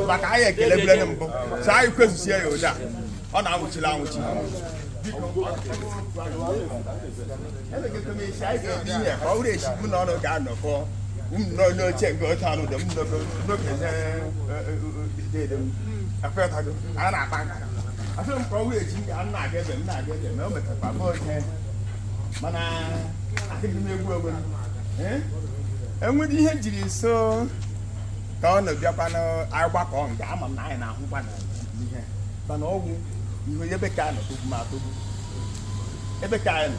maka anyị ekele bụlere mbụ so anyị kwezusie ya ụda ọ na-anwụchiri anwụchi ọ bụrụ esi mụ na ụnụ ga-anọkọ n'oche nke otu anụ dị m n'okenye a na-akpa nka afọ m ka ọ wee ji ndị a na-aga ebe m na-aga ebe ma o metakwa bụ ihe mana adịghị m egwu egwu enwere ihe jiri so ka ọ na-abịakwa n'agbakọ nga ama m na anyị na-ahụkwa na ihe mana ọ wụ ihu ebe ka a nọ togbu m atogbu ebe ka anyị nọ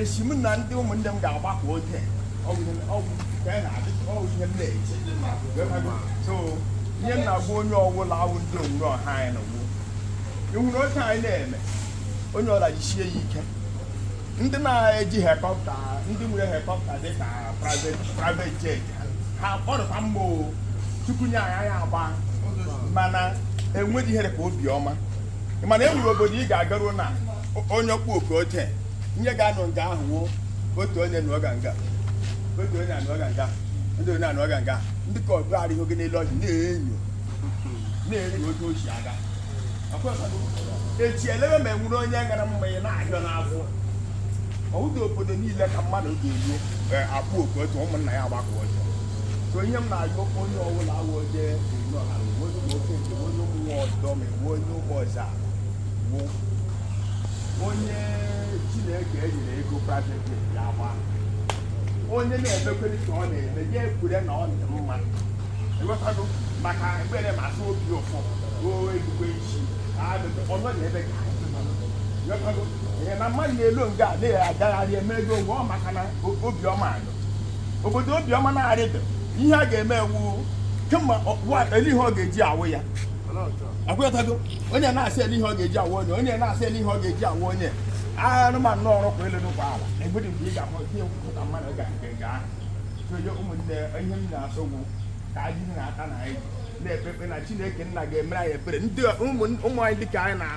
esi m na ndị ụmụnne m ga-agbakọ oge ọ wụ ihe ọ wụ ka anyị na-adị ọ wụ ihe m na-eji so ihe m na-agwa onye ọwụla awụ ndị onwuru ọha anyị na ugbu ịhụrụ otu anyị na-eme onye ọla jisie ya ike ndị na-eji helikọpta ndị nwere helikọpta dị ka private private jet ha kpọrọta mma o tupu nye anyị anyị agba mana enweghị ihere ka obiọma ị mana e nwere obodo ị ga-agaruo na onye ọkpụ oke otu onye ga-anọ nga ahụ wuo otu onye na ọga nga otu onye anọ ọga nga ndị onye anọ ọga nga ndị ka ọdụ arịghị gị n'elu ọjị na-enyo na-enyo otu o si aga echi elebe ma enwere onye gara mma ya na-ahịọ n'afọ ọ wụdị obodo niile ka mmadụ ga-eruo e, akpọkọta ụmụnna ya agbakọ ọjọ so ihe m na-ajụ onye ọbụla awụ onye ọha onye nwoke nke onye ụmụ ọdọ bụ onye ụgbọ ọzọ a bụ onye chineke enyere ego private jet ya agba onye na-emekwere ka ọ na-eme ya ekwure na ọ dị mma ịghọtago maka ekpere ma asụ obi ụfụ oo egbugbe isi ọnọ na ebe ka anyị nọ. Ịghọtago? Ee, na mmadụ na-elo nga a na-agagharị eme ego onwe ọ maka na o- obiọma adọ obodo obiọma na-arịdọ ihe a ga-eme ewu kemgbe ọ- wa- ele ihe ọ ga-eji awụ ya akwụghọtago onye na-asị ele ihe ọ ga-eji awụ onye onye na-asị ele ihe ọ ga-eji awụ onye anụmanụ o rukwa elu rukwa ala enwedị mgbe ị ga-ahụ ihe nkwụta mmadụ ga nke ga soye ụmụnne ihe m na-asọ ugwu ka anyị na-ata na anyị na-ekpe ekpe na chineke nna ga-emere anyị ebere ndị ụmụ anyị dịka anyị na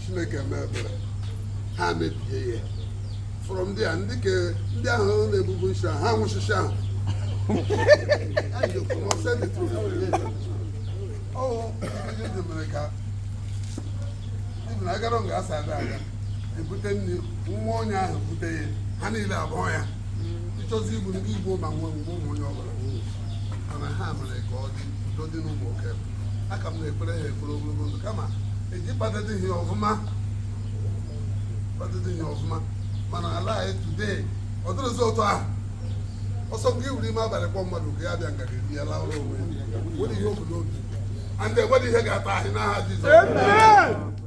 chineke mee ebere ha mebie ya fọrọ ndị a ndị ke ndị ahụ na-ebubu nshi ahụ ha nwụchicha ahụ mere ka ibn agara nga asa ada aga ebute nri nwa onye ahụ bute ya ha niile abụọ ya ịchọzi igbu ndị igbo ma nwe mgbe ụmụ onye ọbụla mana ha mere ka ọ dị udo dị n'ụmụ oke a ka m na-ekpere ha ekpere ogologo ndụ kama eji kpadịdị ha ọfụma kpadịdị ha ọfụma mana ala anyị today ọ dịrọzi otu ahụ ọsọ nke iwuru ime abalị kpọ mmadụ ka ya bịa nga ga-eri ya laụrụ onwe ya nwere ihe obodo obi and enweghị ihe ga-ata anyị n'aha Jizọs